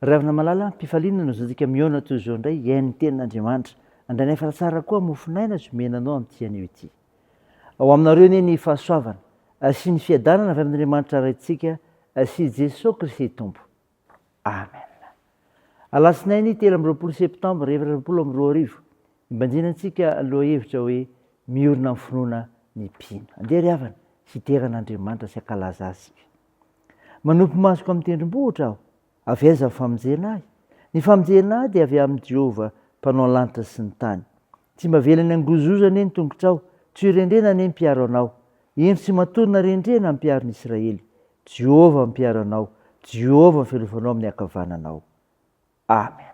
Ry havana malala, am-pifaliana no ajantsika mihaona toy izao indray hihaino ny tenin'Andriamanitra. Andrainay fa tsara koa mofon'aina sy omena anao amin'ity anio ity. Ao aminareo anie ny fahasoavana sy ny fiadanana avy amin'Andriamanitra Raintsika sy Jesoa Kristy Tompo. Amen. Alatsinainy telo amby roapolo septambra efatra amby roapolo amby roa arivo, ibanjina antsika lohahevitra hoe Miorina amin'ny finoana ny mpino. Andeha ry havana, hidera an'Andriamanitra sy hankalaza Azy. Manompo masoko amin'ny tendrombohitra aho, Avy aiza ny famonjena ahy? Ny famonjena ahy dia avy amin'i Jehovah, Mpanao ny lanitra sy ny tany. Tsy mba velany hangozohozo anie ny tongotrao, tsy ho rendrena anie ny mpiaro anao. Indro tsy matory na rendrena ny mpiaro ny Israely. Jehovah no mpiaro anao, Jehovah no fialofanao amin'ny ankavananao. Amena.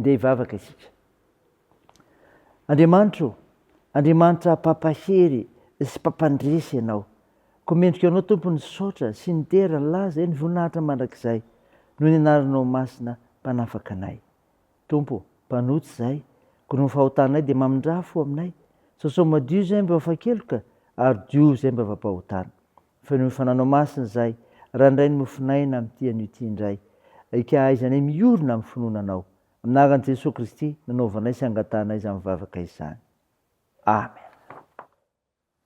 Ndeha hivavaka isika. Andriamanitro, Andriamanitra mpampahery sy mpampandresy Ianao. Koa mendrika Anao Tompo ny saotra sy ny dera, ny laza, eny voninahitra mandrakizay, noho ny Anaranao masina mpanafaka anay. Tompo ô, mpanotsa izahay, koa noho ny fahotanay dia mamindrà fo aminay, sosao madio izay mba vafakeloka, ary diovy izay mba vapahotana. Fenoy ny fananao masina izahay, randray ny mofon'aina amin'ity anio ity indray, hikahaizanay miorina amin'ny finoana Anao. Amin'ny anaran'i Jesoa Kristy, nanaovanay sy angatahanay izany vavaka izany. Amen.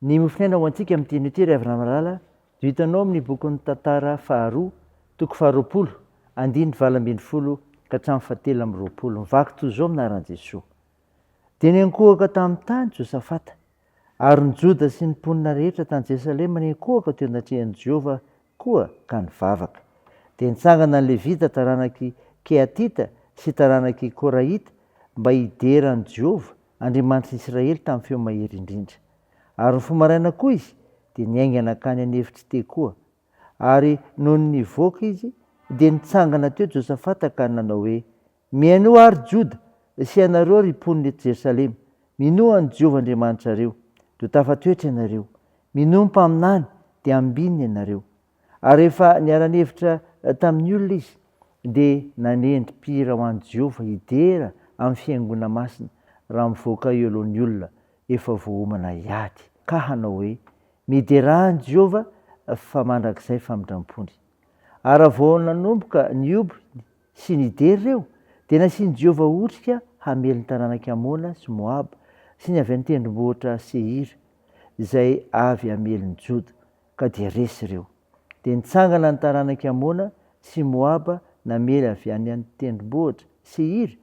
Ny mofonaina ho antsika amin'ny teny ity, Ry Havy Ramalala, dia hitanao amin'ny bokin'ny Tantara faharoa, toko faharoapolo, andininy valo ambin'ny folo ka hatramin'ny fahatelo amby roapolo. Mivaky toy izao minaran'i Jesoa, Dia niankohoka tamin'ny tany Josafata, ary ny Joda sy ny mponina rehetra tany Jerosalema niankohoka teo anatrehan'i Jehovah koa ka nivavaka. Dia nitsangana ny Levita taranak'i Kehatita sy taranak'i Korahita mba hidera an'i Jehovah, Andriamanitry ny Israely tamin'ny feo mahery indrindra. Ary ny fo maraina koa izy dia niainga nankany an'efitr'i Tekoa. Ary nony nivoaka izy, dia nitsangana teo Josafata ka nanao hoe, Mihainoa aho, ry Joda, sy ianareo, ry mponin'ny eto Jerosalema, minoa an'i Jehovah Andriamanitrareo, dia tafatoetra ianareo, minoa ny mpaminany, dia hambinina ianareo. Ary rehefa niara-nihevitra tamin'ny olona izy, dia nanendry mpihira ho an'i Jehovah hidera amin'ny fihaingoana masina raha mivoaka eo alohan'ny olona efa voaomana hiady, ka hanao hoe, Miderà an'i Jehovah, fa mandrakizay famindram-pony. Ary raha vao nanomboka nihoby ny. sy ny dera ireo, dia nasian'i Jehovah otrika hamely ny taranak'i Amona sy Moaba sy ny avy any tendrombohitra Seira, izay avy hamely ny Joda, ka dia resy ireo. Dia nitsangana ny taranak'i Amona sy Moaba namely avy any any tendrombohitra Seira,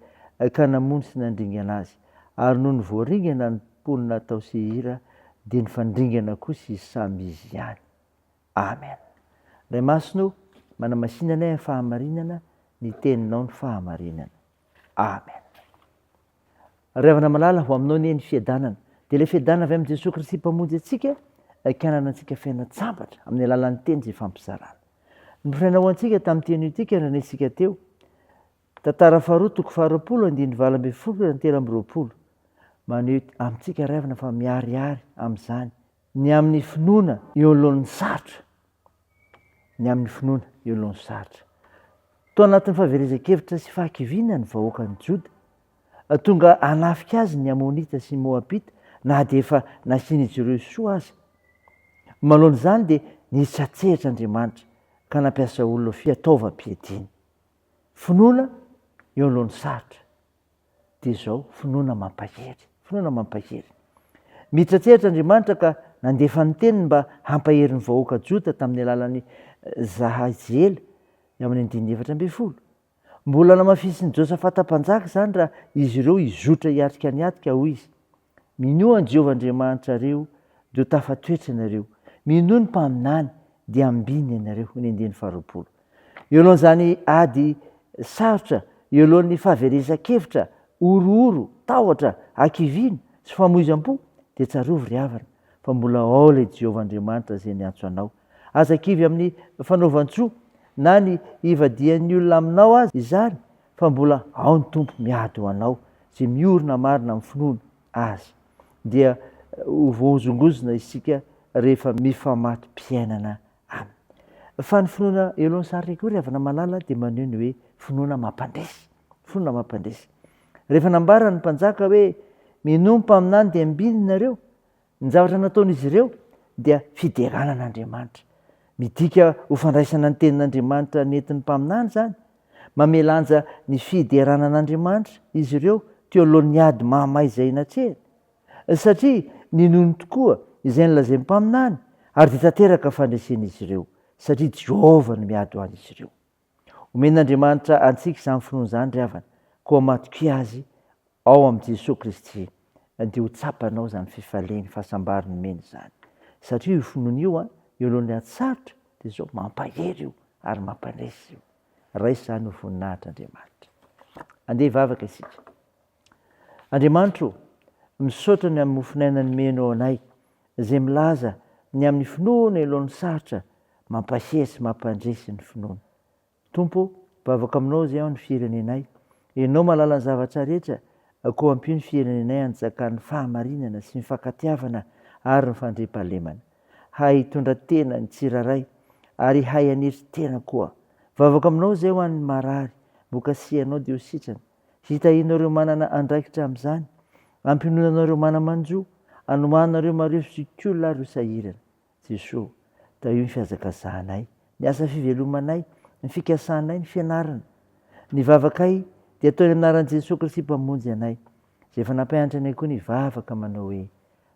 ka namono sy nandringana azy. Ary nony voaringana ny mponina tao Seira, dia nifandringana kosa izy samy izy ihany. Amen Ray Masina o manamasina anay am fahamarinana ny teninao ny fahamarinana Amen Ray havana malala ho aminao anie ny fiadanana dia ilay fiadanana avy am Jesoa Kristy mpamonjy antsika aikanana antsika fiainatsambatra amin ny alalan ny teny izay fampizarana noforainao ho antsika tam ity anio ity ka nandrenesika teo Tantara faharoa toko faharoapolo andininy valo ambin'ny folo ka telo amby roapolo maneho am tsika Ray havana fa miharihary am zany Ny amin'ny finoana eo anoloan'ny sarotra. Ny amin'ny finoana eo anoloan'ny sarotra. Tao anatin'ny fahaverezan-kevitra sy fahakiviana ny vahoakan'i Joda. Tonga hanafika azy ny Amonita sy Moabita na dia efa nasian'izy ireo soa aza. Manoloana izany dia nihetsatsehatra Andriamanitra ka nampiasa olona ho fiataovam-piadiana. Finoana eo anoloan'ny sarotra. dia izao, finoana mampahery. Finoana mampahery. Mieritreritra Andriamanitra ka nandefa ny teniny mba hampahery ny vahoaka Jota tamin'ny alalan'i Jahaziela eo amin'ny andininy efatra ambin'ny folo. Mbola namafisin'i Josafata Mpanjaka izany raha izy ireo hizotra hiatrika ny atka, hoy izy. Minoa an'i Jehovah Andriamanitrareo, dia ho tafatoetra ianareo. Minoa ny mpaminany, dia hambinina ianareo. Eny Andininy faharoapolo. Eo alohan'izany ady sarotra, eo alohan'ny fahaverezan-kevitra, horohoro, tahotra, hakiviana, sy famoizam-po, dia tsarovy ry havana, fa mbola ao ilay Jehovah Andriamanitra izay niantso anao. Aza kivy amin'ny fanaovan-tsoa, na ny hivadihan'ny olona aminao aza izany, fa mbola ao ny Tompo miady ho anao sy miorina marina amin'ny finoana Azy, dia ho voahozongozona isika rehefa mifamato-piainana Aminy. Fa ny finoana eo alohan'ny sary ry Ry havana malala dia maneho ny hoe finoana mampandresy. Finoana mampandresy. Rehefa nambaran'ny mpanjaka hoe, Minompa aminà ny diam-biny nareo, Ny zavatra nataon'izy ireo dia fiderana an'Andriamanitra. Midika ho fandraisana ny Tenin'Andriamanitra nentin'ny mpaminany izany. Mamelanja ny fiderana an'Andriamanitra izy ireo teo alohan'ny ady mahamay izay natrehiny, satria ninoany tokoa izay nolazain'ny mpaminany, ary dia tanteraka fandresen'izy ireo, satria Jehovah no miady ho an'izy ireo. Omen'Andriamanitra antsika izany finoana izany ry havana, koa matokia azy ao amin'i Jesoa Kristy dia ho tsapanao izany fifaliany, fahasambarany omeny izany. Satria io finoana io an, eo alohan'ny hatsarotra dia izao mampahery io ary mampanesy io. Raiso izany ho voninahitr'Andriamanitra. Andeha hivavaka isika. Andriamanitro ô, misaotra ny amin'ny mofon'aina nomenao anay, izay milaza ny amin'ny finoana eo alohan'ny sarotra, mampahery sy mampandresy ny finoana. Tompo ô, vavaka aminao izay aho ny firenenay, ianao mahalala ny zavatra rehetra, koa ampio ny firenenay hanjakan'ny fahamarinana sy ny fankatiavana ary ny fandriampahalemana. Hahay hitondra tena ny tsiraray, ary hahay hanetry tena koa. Vavaka aminao izay ho an'ny marary, vokasianao dia ho sitrana. Hitahianao ireo manana andraikitra amin'izany, hampiononanao ireo mana-manjo, hanomanana ireo mareso sy k'olona ary ho sahirana. Jesoa, tahio ny fihazakazahanay, ny asa fivelomanay, ny fikasanay, ny fianarana. Ny vavakay dia atao eny anaran'i Jesoa Kristy Mpamonjy anay, izay efa nampianatra anay koa ny hivavaka manao hoe,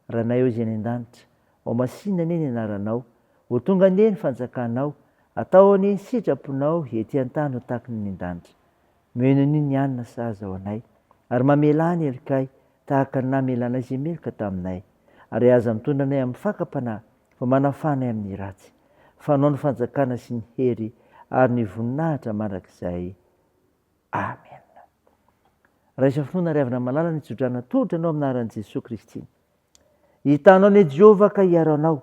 Ranay ao izay any an-danitra, ao masina anie ny anaranao, ho tonga anie ny fanjakanao, atao anie ny sitraponao ety an-tany ho takiny any an-danitra. Miheno an'io ny anona sahaza ao anay, ary mamelà ny helokay tahaka ny namelanay izay meloka taminay. Ary aza mitondra anay amin'ny fakam-panahy, fa manafaha anay amin'ny ratsy. Fa anao ny fanjakana sy ny hery ary ny voninahitra mandrakizay. Amena. Raisa finoana ary avy namalala ny tso-drano atolotra anao amin'ny anaran'i Jesoa Kristy. Hitanao anie Jehovah ka hiaro anao,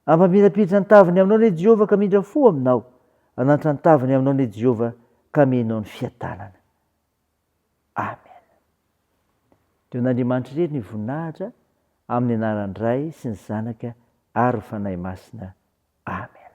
Hampamirapiratra ny taviny aminao anie Jehovah ka mindra fo aminao, hanantra ny taviny aminao anie Jehovah ka hamenao ny fiadanana. Amen. Dia ho an'Andriamanitra irery ny voninahitra amin'ny anaran'ny Ray sy ny Zanaka ary ny Fanahy Masina. Amen.